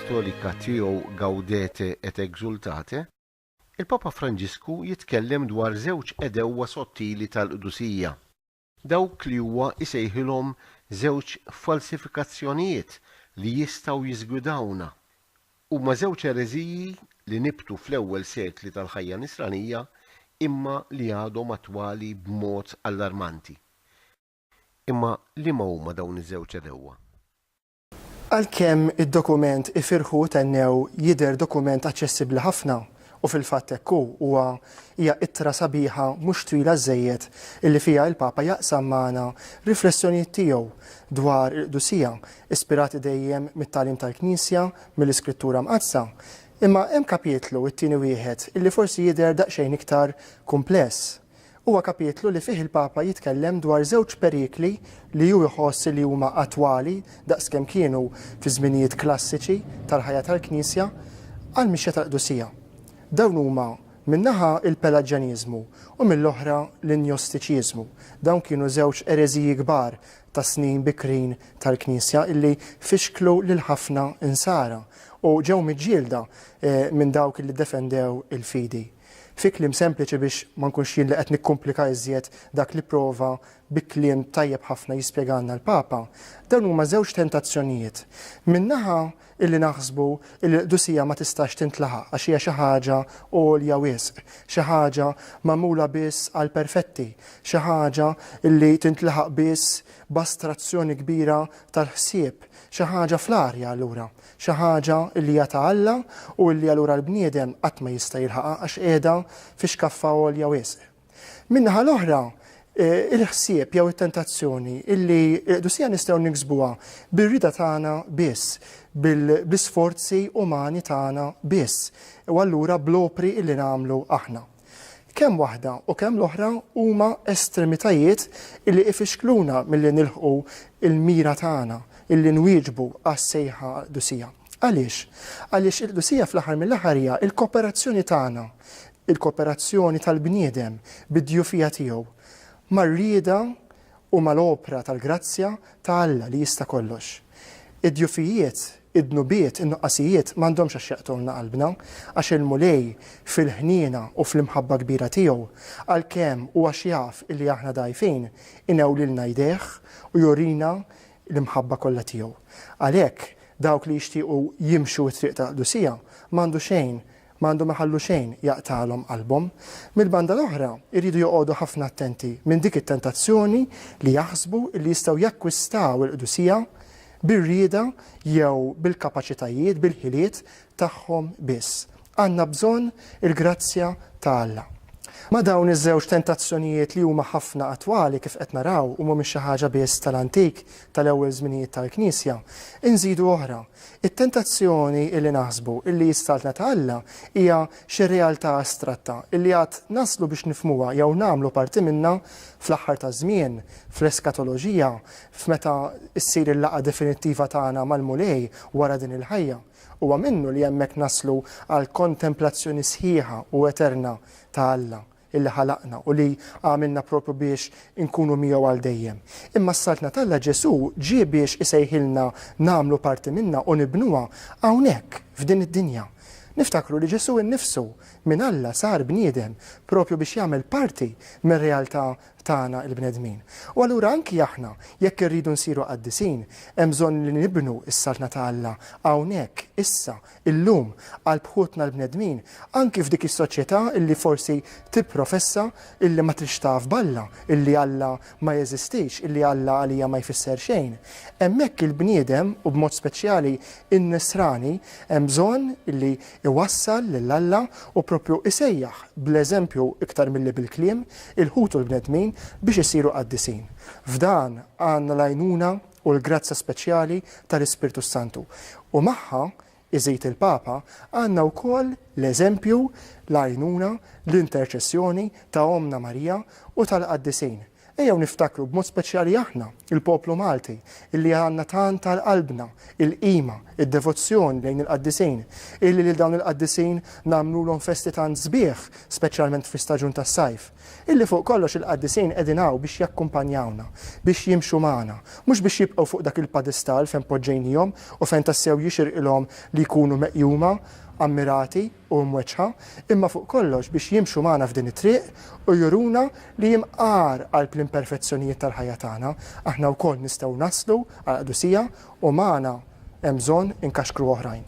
Apostolika tiegħu Gaudete et Exultate, il-Papa Franġisku jitkellem dwar żewġ għedewwa sottili tal-qdusija, dawk li huwa jsejħilhom żewġ falsifikazzjonijiet li jistgħu jiżgwidawna. Huma żewġ ereżiji li nibtu fl-ewwel sekli tal-ħajja Nisranija imma li għadhom attwali b'mod allarmanti. Imma liema huma dawn iż-żewġ għedewwa? Għalkemm id-dokument Ifirħu u Thennew jidher dokument aċċessibbli ħafna, u fil-fatt hekk hu, huwa hija ittra sabiħa mhux twila żżejjed illi fiha il-Papa jaqsam magħna riflessjonijiet tiegħu dwar il-qdusija, ispirati dejjem mit-tagħlim tal-Knisja, mill-Iskrittura Mqaddsa, imma hemm kapitlu, it-tieni wieħed, illi forsi jidher daqsxejn iktar kumpless. Huwa kapitlu li fih il-Papa jitkellem dwar żewġ perikli li hu jħoss li huma attwali daqs kemm kienu fiż-żminijiet klassiċi tal-ħajja tal-Knisja għall-mixja tal-qdusija. Dawn huma, minn naħa, il-Pelaġjaniżmu u mill-oħra l-Njostiċiżmu. Dawn kienu żewġ ereżiji kbar tas-snin bikrin tal-Knisja li fixklu lil ħafna Insara u ġew miġġielda minn dawk li ddefendew il-fidi. Fi kliem sempliċi biex ma nkunx jien li qed nikkumplika iżjed dak li pprova bi kliem tajjeb ħafna jispjegalna l-Papa, dawn huma żewġ tentazzjonijiet. Minn naħa illi naħsbu illi l-qdusija ma tistax tintlaħaq għax hija xi ħaġa għolja wisq, xi ħaġa magħmula biss għall-perfetti, xi ħaġa illi tintlaħaq biss b'astrazzjoni kbira tal-ħsieb, xi ħaġa fl-arja allura. xi ħaġa li hija ta' Alla u li allura l-bniedem qatt ma jista' jilħaqha għax qiegħda fi xkaffa għolja wisq. Min-naħa l-oħra, il-ħsieb jew it-tentazzjoni li l-qdusija nistgħu niksbuha bir-rieda tagħna biss, bl-isforzi umani tagħna biss, u allura bl-opri li nagħmlu aħna. Kemm waħda u kemm l-oħra huma estremitajiet illi ifixkluna milli nilħqu l-mira tagħna illi nwieġbu għas-sejħa qdusija. Għaliex? Għaliex il-qdusija fl-aħħar mill-aħħar hija l-koperazzjoni tagħna, il-koperazzjoni tal-bniedem bid-djufija tiegħu mar-rieda Huma l-opra tal-grazzja ta' Alla li jista' kollox. Id-djufijiet, id-dnubiet, in-nuqqasijiet m'għandhomx għax jaqtgħulna qalbna, għax il-Mulej, fil-ħniena u fl-imħabba kbira tiegħu, għalkemm u għax jaf illi aħna dgħajfin, inewwlilna jdejh u jurina l-imħabba kollha tiegħu. Għalhekk, dawk li jixtiequ jimxu t-triq tal-qdusija m'għandu xejn ma għandhom iħallu xejn jaqtagħlhom qalbhom. Mill-banda l-oħra, iridu joqogħdu ħafna attenti minn dik it-tentazzjoni li jaħsbu li jistgħu jakkwistaw il-qdusija bir-rieda jew bil-kapaċitajiet, bil-ħiliet, tagħhom biss. Għandna bżonn il-grazzja ta' Alla. Ma' dawn iż-żewġ tentazzjonijiet li huma ħafna attwali, kif qed naraw, u mhumiex xi ħaġa biss tal-antik, tal-ewwel żminijiet tal-Knisja, inżidu oħra, It-tentazzjoni illi naħsbu illi s-Saltna ta' Alla hija xi realtà astratta illi għad naslu biex nifhmuha jew nagħmlu parti minnha fl-aħħar taż-żmien, fl-eskatoloġija, f'meta ssir il-laqgħa definittiva tagħna mal-Mulej wara din il-ħajja. Huwa minnu li hemmhekk naslu għall-kontemplazzjoni sħiħa u eterna ta' Alla. illi ħalaqna u li għamilna proprju biex inkunu miegħu għal dejjem. Imma s-Saltna t'Alla, Ġesù, ġie biex isejħilna nagħmlu parti minnha u nibnuha hawnhekk, f'din id-dinja. Niftakru li Ġesù innifsu, minn Alla sar bniedem proprju biex jagħmel parti mir-realtà tagħna l-bnedmin. U allura anki aħna, jekk irridu nsiru qaddisin, hemm bżonn li nibnu s-Saltna ta' Alla hawnhekk, issa, illum għal bħutna l-bnedmin, anki f'dik is-soċjetà li forsi tipprofessa li ma tridx taf b'Alla, li Alla ma jeżistix, li Alla għalija ma jfisser xejn. Hemmhekk il-bniedem, u b'mod speċjali n-Nisrani, hemm bżonn li jwassal lil Alla u proprju jsejjaħ bl-eżempju iktar milli bil-kliem il-ħutu l-bnedmin biex isiru qaddisin. F'dan għandna l-għajnuna u l-grazzja speċjali tal-Ispirtu s-Santu. U magħha, iżid il-Papa, għandna wkoll l-eżempju, l-għajnuna, l-interċessjoni ta' Ommna Marija u tal-qaddisin. Ejjew niftakru b'mod speċjali aħna, il-poplu Malti, illi għandna tant għal qalbna il-qima, id-devozzjoni lejn il-qaddisin, illi lil dawn il-qaddisin nagħmlulhom festi tant sbieħ, speċjalment fl-istaġun tas-sajf. Illi fuq kollox il-qaddisin qegħdin hawn biex jakkumpanjawna, biex jimxu magħna, mhux biex jibqgħu fuq dak il-padestall fejn poġġejnihom u fejn tassew jixirqilhom li jkunu meqjuma, ammirati u mweġġħa, imma fuq kollox biex jimxu magħna f'din it-triq u juruna li imqar qalb l-imperfezzjonijiet tal-ħajja tagħna, aħna wkoll nistgħu naslu għall-qdusija u magħna hemm bżonn inkaxkru oħrajn.